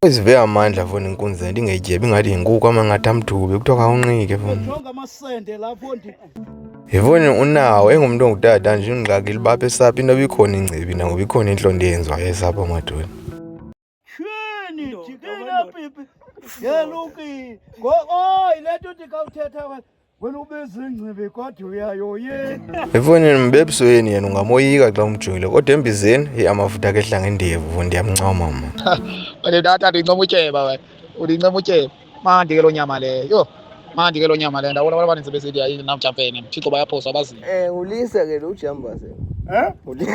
Izive amandla fona inkunzi le nto ingayityebi ingathi yinkuku amangathi amthubi kuthiwa khawunqike fona. Jonga amasende lapho ndi. Yifoni unawo engumntu ongutata nje ungxaki libapha esapha into bikhona ingcibi nangoba ikhona intlonto eyenziwayo esapha madoni. Shini jikela pipi. Yeluki. Ngo oy le nto ndikawuthetha wena. efowunini mbebso yeni yena ungamoyika xa umjongile kodwa embizeni heyi amafuta akhe ehlanga endevu ndiyamncoma mna wena ndata ndincoma utyeba wena undincoma utyeba mandi ke loo nyama leyo yho mandi ke loo nyama leyo ndabona abantu abaninzi besithi hayi namjampeni thixo bayaphoswa abazi Eh, ulisa ke lo jamba se. Eh? Ulisa.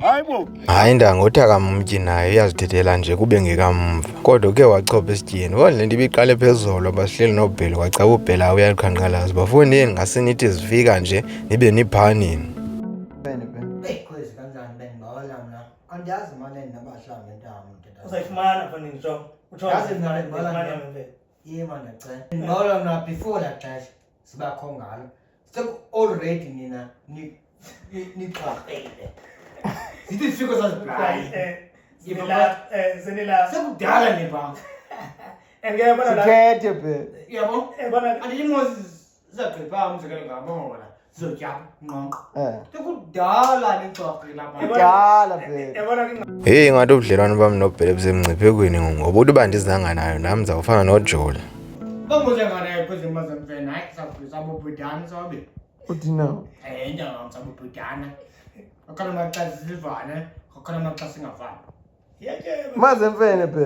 Hayibo. Hayi ndangothi kamumtyi naye uyazithethela nje kube ngekamva. Kodwa ke wachopha esityeni. Kodwa le nto ibiqale phezulu basihleli nobheli kwacaba ubhela uyaluqhankqalaza. Bafuni yini ngasinithi zifika nje nibe niphanini. Andiyazi manje nabahlambe ntamu. Uzayifumana fanele njo. Uthola. Yazi nalo mbala. Yebo ndiyacela. Ngolo mna before la xesha sibakho ngalo. Sek already nina ni nixhaqile. Zithi sifiko sazibhayi. Sekudala le bam. Sithethe be. Yabo? Andiyimozi zagqiba umzekelo ngamona heyi ingathi ubudlelwane bam nobhele busemngciphekweni ngoba uthi uba ndizanga nayo nam ndizawufana nojola uthina mazemfene bhe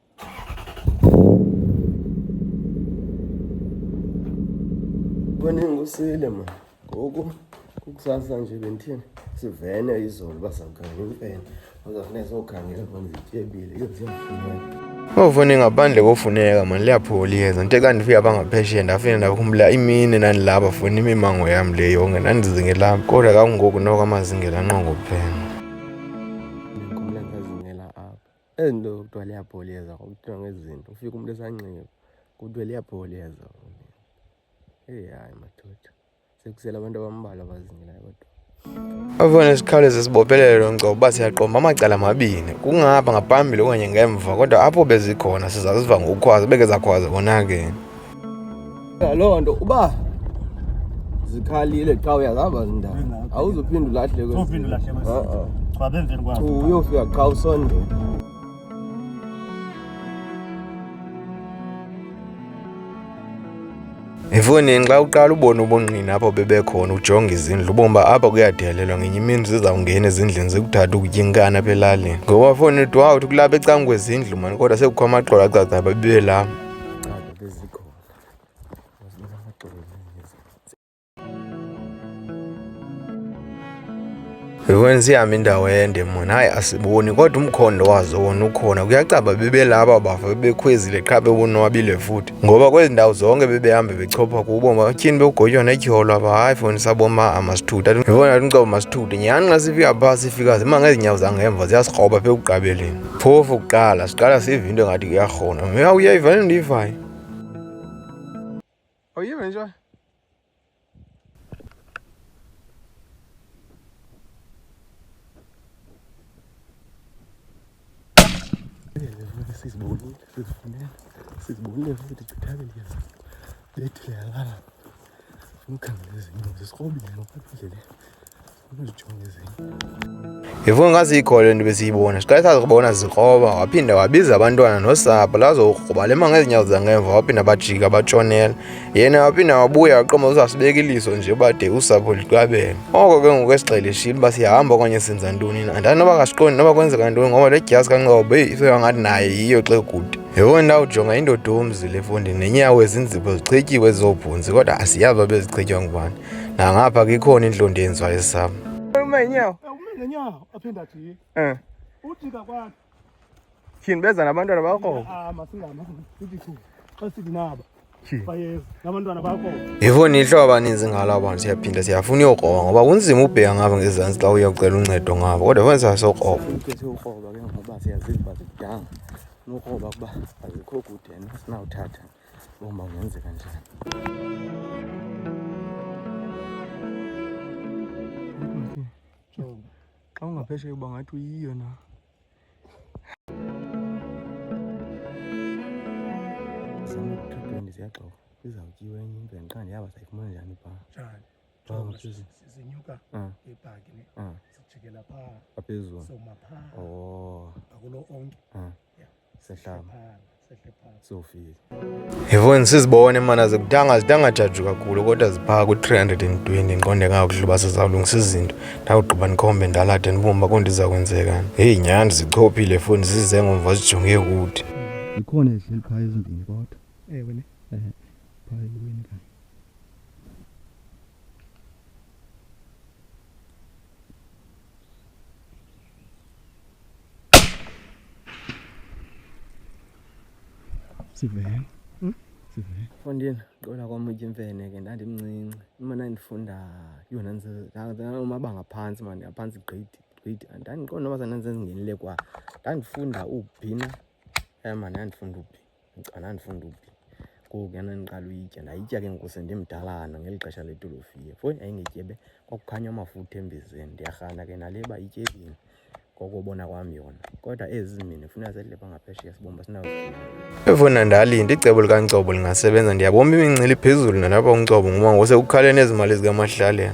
Boningi usile ma ngoku kukusasa nje bendithini sivene izolo bazawukhangela imfene bazawufuneka sokhangela bona zityebile iyo ziyafumeka Ngofune ngaphandle kofuneka mani liyaphola iyeza nto kanti fika bangaphesheya ndafike ndakhumbula imini ndandilapha funa imimango yam le yonke ndandizingelapha kodwa kangoku noko amazingela nqongophela ezi nto kuthiwa liyabholeza kuthiwa ngezi zinto ufika umntu esanxiba kuthiwa liyabholeza eyi hayi madoda sekusele abantu abambalwa abazingilayo kodwa Abafana sikhawuleze sibophelele lo ngcobo uba siyaqomba amacala amabini kungapha ngaphambili okanye ngemva kodwa apho bezikhona sizaziva ngokukhwaza beke zakhwaza konakeni loo nto uba zikhalile xa uyazihamba zindawo awuzuphinde ulahleko uyofika qha usondela Mfuni xa uqala ubona ubungqina apho bebekhona ujonga izindlu ubomba apha kuyadelelwa ngenye imini zizawungena ezindlini zikuthatha ukutya inkani apha elalini ngoba foni uthi wawuthi kulapha ecangwezindlu mani kodwa sekukho amaxolo acacaba bebelapha Qala bezikhona. Wazinika amaxolo Yokwenza ihamba indawo ende mona hayi asiboni kodwa umkhondo wazo wona ukhona kuyacaba bebelaba bafo bebekhwezile qha bebonwabile futhi ngoba kwezi ndawo zonke bebehambe bechopha kubo matyhini bekugotywa netyholo aba hayi foni saboma amasithutha yibona umcobo masithuthe nyhani xa sifika phaa sifika zima ngezinyawo zangemva ziyasirhoba phe ekugqabeleni phofu kuqala siqala sive into engathi kuyarhona mya uyayiva le ndiyivayo awuyive nje sizibonile sizifunela sizibonile futhi chithake ndiyeza bethile yalala funa ukhangela ezinye zisikobile ngokwaphi indlela Yifuna ngazi ikho le nto besiyibona siqale sazi kubona zikroba waphinde wabiza abantwana nosapho lazokruba le manga ezinyawo zangemva waphinde bajika batshonela yena waphinde wabuya waqoma uzasibeka iliso nje bade usapho liqabele oko ke ngoku esigxele eshile uba siyahamba okanye senza ntoni na andani noba kasiqondi noba kwenzeka ntoni ngoba le dyasi kanqobo eyi isoya ngathi naye yiyo xe kude yewona ndawo jonga indoda omzi le fondini nenyawo ezinzipho zichityiwe zobhunzi kodwa asiyazi babezichitywa ngubani nangapha kikhona indlondo yenziwa esami uma inyawo uma ngenyawo aphinde ajike um ujika kwakhe tyhini beza nabantwana bakho yifuni ihlobo abaninzi ngalo abantu siyaphinda siyafuna uyokroba ngoba kunzima ubheka ngabo ngezantsi xa uyocela uncedo ngabo kodwa funa sasokroba nokroba kuba azikho kude sinawuthatha Bomba nianze kanisani. Xa ungaphesheya uba ngathi uyiyo na. Zama ku-two twenty ziyagxoka izawutyiwa enye into yandiqanda yaba sayifumana njani phaa. Njani? Jonga phezulu. Sinyuka Ah. ngebhaki ne Ah, sijikela phaa phezulu. soma phaa Oh. ngakulo onke Ah. sofika yivoni sizibone mana zikudanga zidanga jaji kakhulu kodwa ziphaka ku-320 ndiqonde ngakuhluba sizawulungisa izinto ndawugqiba ndikhombe ndalade ndibumba kondiza kwenzekani heyi nyhani zichophile foni zize ngomva zijonge kude ikhona ezihleli phaa ezimbini kodwa ewe ne um phaa eweni kanye sivele hmm? sivele fondini qola kwam utyimfene ke ndandimncinci imana ndifunda yona ndinamabanga phantsi mani aphantsi grade grade ndandiqonda noba sandandisenzingenile kwa ndandifunda ubhina eh, mani ndandifunda ubhina ndicana ndifunda ukutya ngoku yana ndiqala uyitya ndayitya ke ngoku sendimdalana ngeli xesha letolofiye foni yayingetyebe kwakukhanya amafutha embizeni ndiyarhana ke nale uba ityebini ngokubona kwam yona kodwa ezi mina funa zedle bangaphesheya sibomba sinazo efona ndalinde icebo likaNcobo lingasebenza ndiyabomba imincili phezulu nalapha uNcobo ngoba ngose ukhalene ezimali zikamahlalela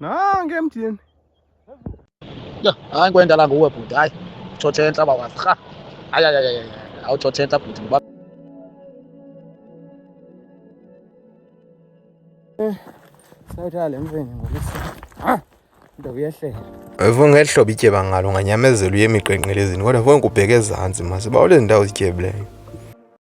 nange emthini yho hayi kwendala nguwe bhuti hayi utshotshentsha bawazi rha hayi hayi awutshotshentsha bhuti ngoba eh, sayithale mfeni ngolisa ah, nto uyehlela Mfo ngeli hlobo ityeba ngalo nganyamezela uye emiqenqelezini kodwa mfo ngikubheke ezantsi masiba olezi ndawo zityebileyo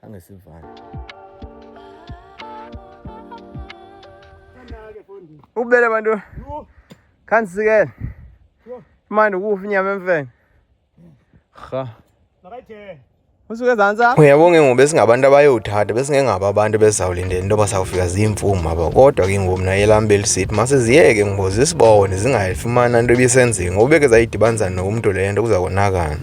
Khange sivane. Ubele bantu. Khange sikele. Manje ukufa inyama emfene. Cha. Makayithenge. usuke ezantsi apho uyabonga ke ngoku besingabantu abayowuthatha besingengabo abantu besizawulindela into yoba sawufika ziimfumu aba kodwa ke ngoku mna elam belisithi masiziyeke ngoba zisibone zingayifumana into ebisenziwe ngoba beke zayidibanisa nokumntu le nto kuza konakana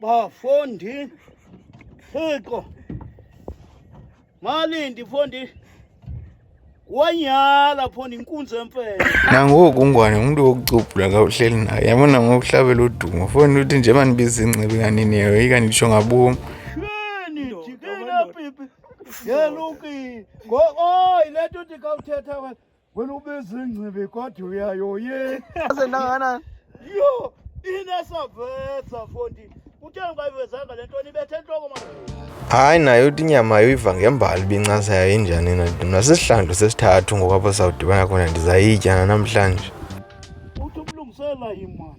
bafundi thixo malindi fundi wanyala fundi inkunzi emfele nangoku ungwane umntu wokucubhula ka uhleli naye yabona ngokuhlabela udumo fundi uthi nje mandibiza ingcibi kanini yayo ikanditsho ngabomi Yelukile. Ngo oh ilento ndikawuthetha wena. Wena ubezingcibi kodwa uyayoye. Aze ndangana. Yo, inasavesa fondi. Uthe ungayivezanga lento nibethe entloko manje. Hayi nayo uthi inyama yoyiva ngembali ibincasa yayo injani na mna sisihlandlo sesithathu ngoku apho sawudibana khona ndizayitya namhlanje. Uthi umlungisela imali.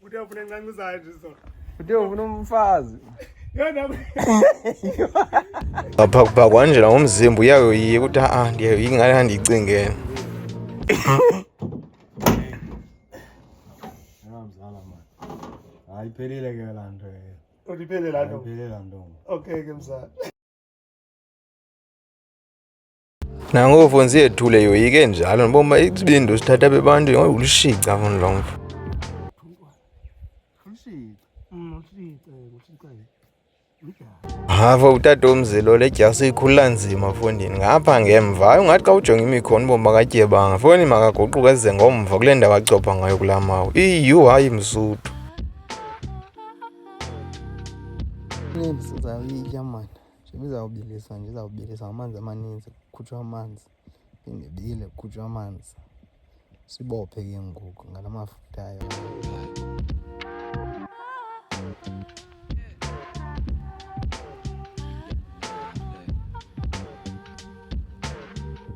Kuti afune ngangu zaizviso. Kuti afune mfazi. pakwanjira ngomzimba uyayoyiye kuti aa ndiyayoyi ngani andiyicingeni ayiphelile ke laa nto eyo undiphelele laa nto iphelele laa nto okay ke mzala nangovo nzethu le yoyike njalo ndibomba isibindi usithatha bebantu ngoba ulushica funi lo mfo hava utata omzilo le dyasi ikhulula nzima fondini ngapha ngemva ayo ngathi xa ujonga imikhona ubomi bakatyebanga foni makaguquka eze ngomva kule ndawo acopha ngayo kulaa mawu iyu hayi msuthu ndizawubilisa nje izawubilisa amanzi amaninzi kukhutshwa amanzi phinde bile kukhutshwa amanzi sibophe ke ngoku ngala mafutha ayo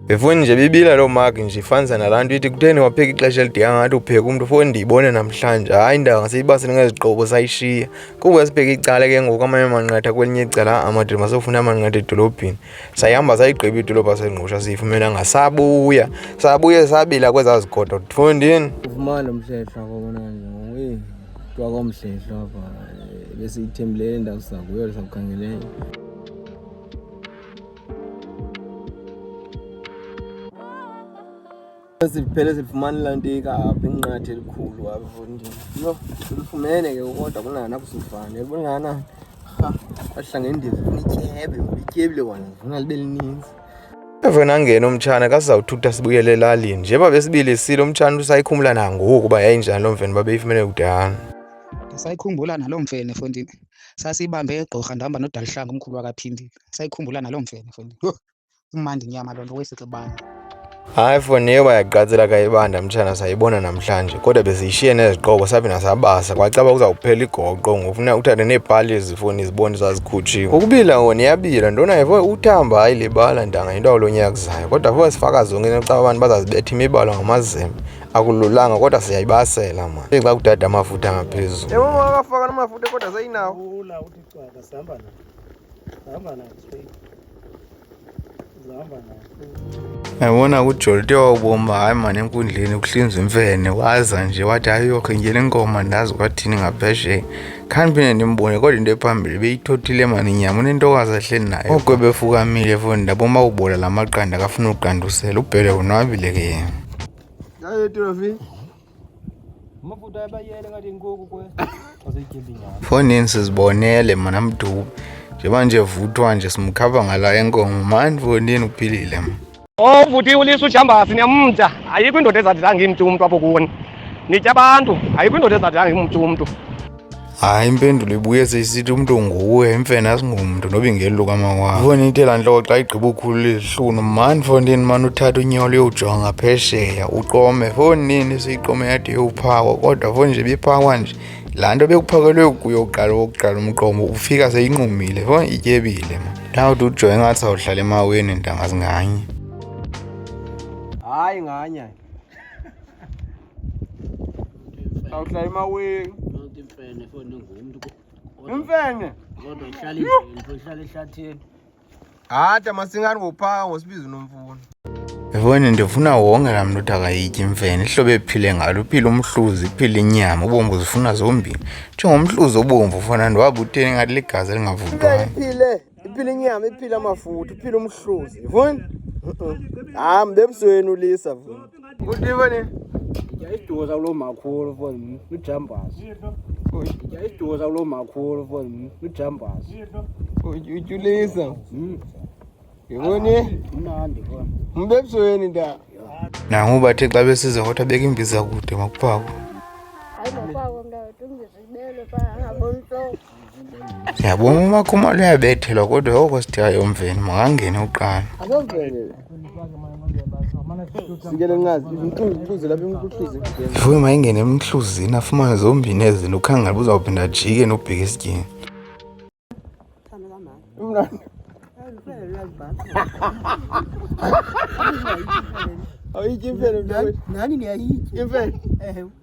Befuni nje bibila loo maki nje ifanisa nalaa nto ithi kutheni wapheka ixesha elidinga ngathi upheka umntu foni ndiyibone namhlanje hayi indawo ngasiyiba siningezigqibo sayishiya kuba sibheke icala ke ngoku amanye amanqatha kwelinye icala amadoda masofuna amanqatha edolobheni sayihamba sayigqiba idolophu asengqusha siyifumena ngasabuya sabuye sabila kwezaa zigodo ndifundini ufumane umhlehla kobona nje kuthiwa komhlehla apha besiyithembile le ndawo sakuyo sakukhangeleyo Ziphele zilifumana ilantika apha inqathi elikhulu apho ndini. Yho, silifumene ke kodwa kunana kusifane. Yabona ngana. Ha, kwahlanga indizi funa ityebe, ityebile kona, funa libe lininzi. Evena ngena umtshana kasizawuthutha sibuyele elalini. Njeba besibili silo umtshana usayikhumula nangoku uba yayinjani loo mfene uba beyifumene kudala. Ndisayikhumbula naloo mfene fondini. Sasiyibambe egqorha ndihamba nodaluhlanga umkhulu wakaphindile. sayikhumbula naloo mfene fundi Yho, imandi nyama loo nto wesixibana Hayi foni yeba yaqatsela kayibanda mtshana sayibona namhlanje kodwa besiyishiye neziqoko saphinda sabasa kwacaba kuzawuphela igoqo ngofuna uthathe neepali ezifoni zibone zazikhutshiwe ukubila wona iyabila ndona yefo uthamba hayi libala ntanga yinto awulo nyaka kuzayo kodwa fo sifaka zonke nocaba abantu bazazibetha imibala ngamazembe akululanga kodwa siyayibasela mani Ithi xa kudada amafutha ngaphezulu Yebo mama akafaka namafutha kodwa sayinawo. yabona kujolite wawubomba hayi mani enkundleni ukuhlinza imfene waza nje wathi hayi yokho ngena inkomo ndazi kwathini ngaphesheya khani phinde ndimbone kodwa into ephambili beyithothile mani inyama unentokazi ahleli nayo oko befukamile foni ndaboma ubola la maqanda akafuna uqandusela ubhele wonwabile ke yena Fonini sizibonele mna mdubu njengoba nje vuthwa nje simkhava ngala enkomo mani fonini uphilile mna o vuti ulisa ujambasi niyamda ayikho indoda ezadilanga imntu umntu apho kuni nitya abantu ayikho indoda ezadilanga imntu umntu hayi impendulo ibuyeza isithi umntu nguwe imfene asingumntu noba ingeli lukamawabo ifoni intela ntloko xa igqiba ukhulula izihlunu mani fondini mani uthatha unyolo yowujonga phesheya uqome fonini siyiqome yade yowuphakwa kodwa foni nje biphakwa nje laa nto bekuphakelwe kuyo uqala wokuqala umqomo ufika seyinqumile foni ityebile ma ndawuthi ujonge ngathi sawuhlala emaweni ntanga zinganye hayi nganye Awuhlala emawini. Yonke imfene fona ngumntu. Imfene. Kodwa ihlala imfene, ihlala ehlathini. Hata masingani ngophaka ngosibiza unomfuno. Yabona ndifuna wonke laa mntu uthi akayityi imfene ihlobo ephile ngalo uphile umhluzi iphile inyama ubomvu zifuna zombini njengomhluzi obomvu fana ndiwabuteni ngathi ligazi elingavuthwayo iphila inyama iphila amafuthi iphila umhluzi vuni hayi mbebusweni ulisa vuni kutiva ni yayiduza kulo makhulu foni ujambazi yayiduza kulo makhulu foni ujambazi utyulisa hmm. yiboni mnandi foni mbebusweni nda nangu bathe xa besize kodwa beka imbiza kude makuphakwa Ndiyabona umakhuma luyabethelwa kodwa yoko sithiyayo mveni makangene uqala. Ifuyo mayingene emhluzini afumane zombini ezi nto ukhangela uba uzawuphinda ajike nobheka esityeni. Awuyityi imfene mntanami. Nani niyayitya. Imfene. Ewe.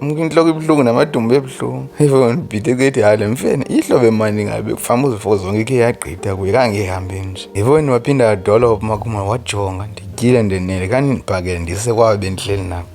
intloko ibuhlungu namadumbu ebuhlungu ifo ndibhide kuthi hayi le mfene ihlobo emandi ngabe kufamba uzifo zonke ikhe yagqitha kuye kangehambi nje ifoni waphinda yadolopha makhumalo wajonga ndityile ndenele kandindibhakele ndise kwabe bendihleli nabo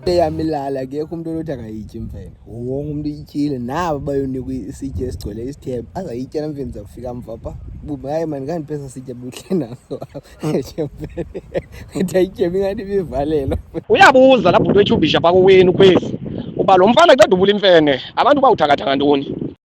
eyamilala akekho umntu olothi akayityi mfene wonke umntu ityile nabo bayonikwa isitya esigcwele isithebe azayitya namfeni zakufika mva pha buba hayi mani kandiphesa sitya buhle naso mfene ethi ayityemi ngathi ibivalelo uyabuza laa bhuti wetshubhisha phakoweni ukhwezi uba lo mfana ceda ubula imfene abantu bawuthakathaka ntoni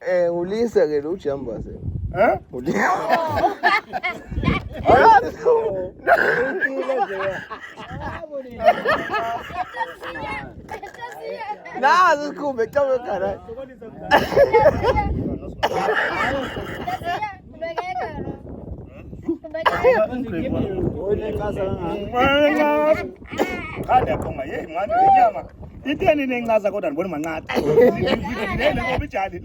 Eh, ulisa ke lo jamba se. Eh? Ulisa. Na zukumbe kama kana. iteni nencaza kodwa ndibona manqatha ngobijali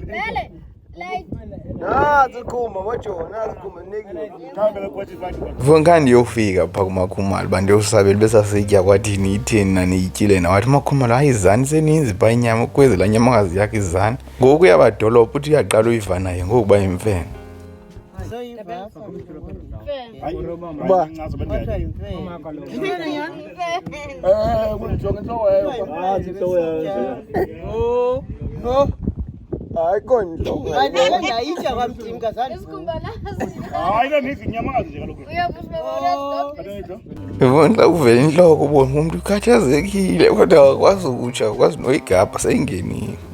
vunkani yofika pha kumakhumalo uba ndiyosabela besasitya kwathini itheni naniyityile nawathi umakhumalo hayi izani seninzi pha inyama kwezi laa nyamakazi yakho izani ngoku yabadolopha uthi uyaqala uyiva naye ngokuba yimfene hayi kontoayitya kwamtim kazandiibona uvela intloko ubona umntu ukhathazekile kodwa wakwazi ukutsha wakwazi noyigabha seyingenile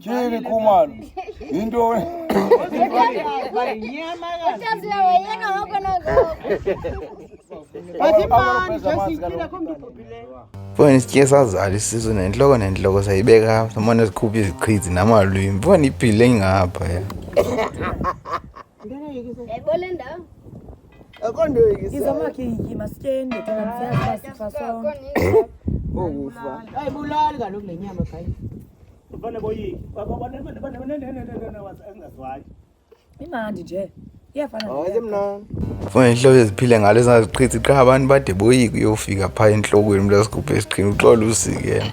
Chili kumal. Into Mfo ndisityeke sazala isisu nentloko nentloko sayibeka samane sikhuphe izichizi namalwimi mfo ndiphile ngapha ya imandi nje funa inhlobo eziphile ngalo ezingaziqhithi qha abantu bade boyike uyofika phaa entlokweni umntu asigubhe esiqhini uxola usike yena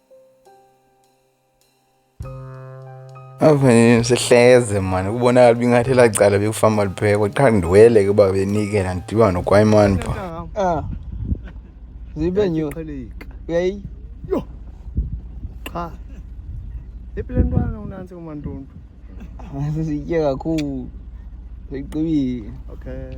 Afanele sihleze mani kubonakala uba ingathi elaa cala bekufamba liphekwa qha ndiwele ke uba benikela ndidiba nokwayimani pha Ah. Zibe nyo. Uyayi. Yo. Cha. Epile ntwana unansi kumantuntu. Sesitye kakhulu. Seqibile. Okay.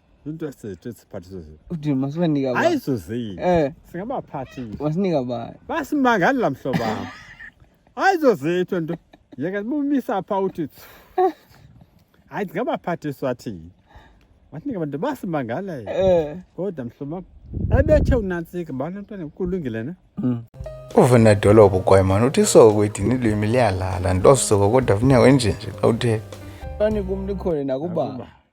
hayi zuzi eh. singabaphathi wasinika bani basimangali la mhlobo wam hayi zozitho nto yeka bumisa pha uthi hayi ndingabaphathiswa thini wasinika bantu basimangalayo eh. kodwa mhlobo wam abethe unantsika bani mntwana kulungile ne mm. uvena dolopho kwaimana uthi soko idini lwimi liyalala ndosoko kodwa funeka wenjenje xa uthetha fani kum likhona nakuba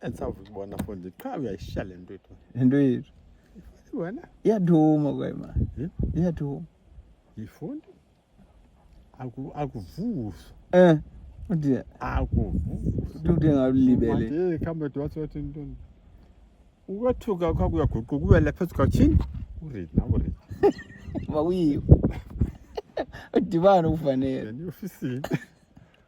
Esawukubona fundi qha uyayishiya le nto ethu. Into yethu. Wena iyathuma kwema. Iyathuma. Yifundi. Aku akuvuso. Eh. Uthi akuvuso. Uthi ngabulibele. Manje khamba dwathi wathi intoni? Ukwethuka kwakho kuyaguquka uwele phezu kwachini. Uread na uread. Makuyiwo. Udibana ufanele. Yena ufisile.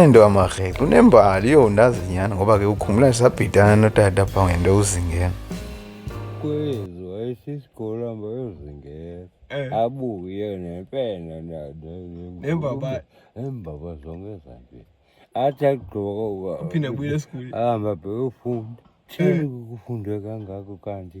ento amarhele unembali yho ndazi nyhani ngoba ke ukhumbula ndisabhidana notata pha ngento uzingela kwezo ayisisikolo hamba yozingela eh. abuye nempena nembaba embaba zonke ezambini athi agqoka uphinde abuyele esikolweni ahamba bheke ufunda thini eh. kukufundwe kangako kanti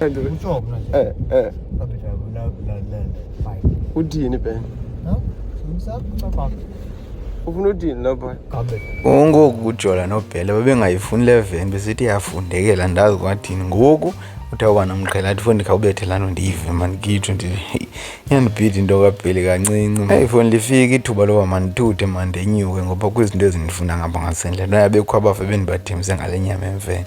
Eh, eh. udini ben ufuna udini lapha ungoku ujola nobhele babengayifuni le veni besithi yafundekela ndazi kwathini ngoku uthi awuba nomqhela athi fo ndikhawubethe lano ndiyive mani kitsho ndi iyandibhida into kabheli kancinci eyi fo ndifike ithuba loba mandithuthe mandenyuke ngoba kwizinto ezindifuna ngapha ngasendlela noyabekho abafe bendibathembise ngale nyama emfene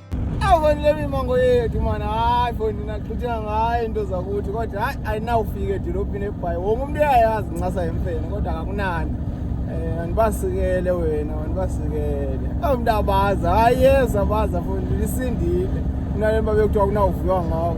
Afanele imango yethu mani hayi fo ndina xhutshela ngayo into zakuthi kodwa hayi ayinawufika edolophini ebhayi wonke umntu uyayazi incasa yemfene kodwa kakunani um andibasikele wena andibasikele awu mntu abazi hayi yeza baza fo ndilisindile kunale mba bekuthiwa kunawuviwa ngawo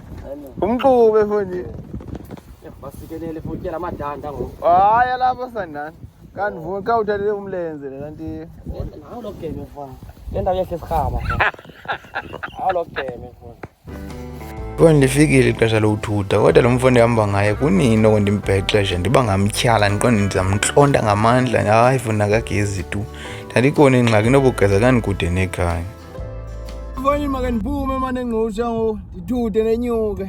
umquba efondini basikelela efotyela amadanda ngoku hayi alapha sandana kanti vume xa uthathele umlenze le kanti nawo lo game fana le ndawo yehle sirhaba nawo lo game fana Kodwa ndifikile ixesha lokuthutha kodwa lo mfo ndihamba ngaye kunini oko ndimbhexeshe ndiba ngamtyhala ndiqonde ndizamntlonta ngamandla hayi funa kagezi tu ndandikona ingxaki nobugeza kandikude nekhaya Mfowethu make ndiphume mane ngqusha ngoku ndithude nenyuke.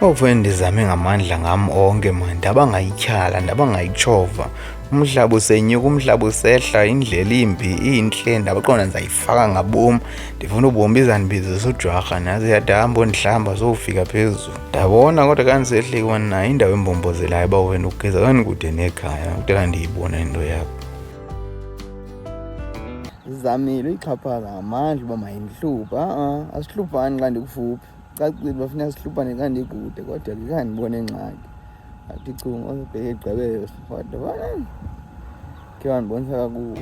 Mfowethu ndizame ngamandla ngam onke mani ndaba ngayityhala ndaba ngayitshova umhlaba usenyuka umhlaba usehla indlela imbi intle ndabaqonda ndizayifaka ngabom ndifuna ubombi izandibizisa ujwarha naze yadahamba ondihlamba zowufika phezulu ndabona kodwa kandisehleki wani nayo indawo embombozelayo uba wena ugeza kandikude nekhaya kudala ndiyibona into yakho Ndizamile uyixhaphaza ngamandla uba mayindihluphe a-a asihlupani xa ndikufuphi cacile uba funeka sihlupane xa ndikude kodwa ke khange ndibone ngxaki athi chunga obheke igqibelo kodwa bana ke wandibonisa kakubi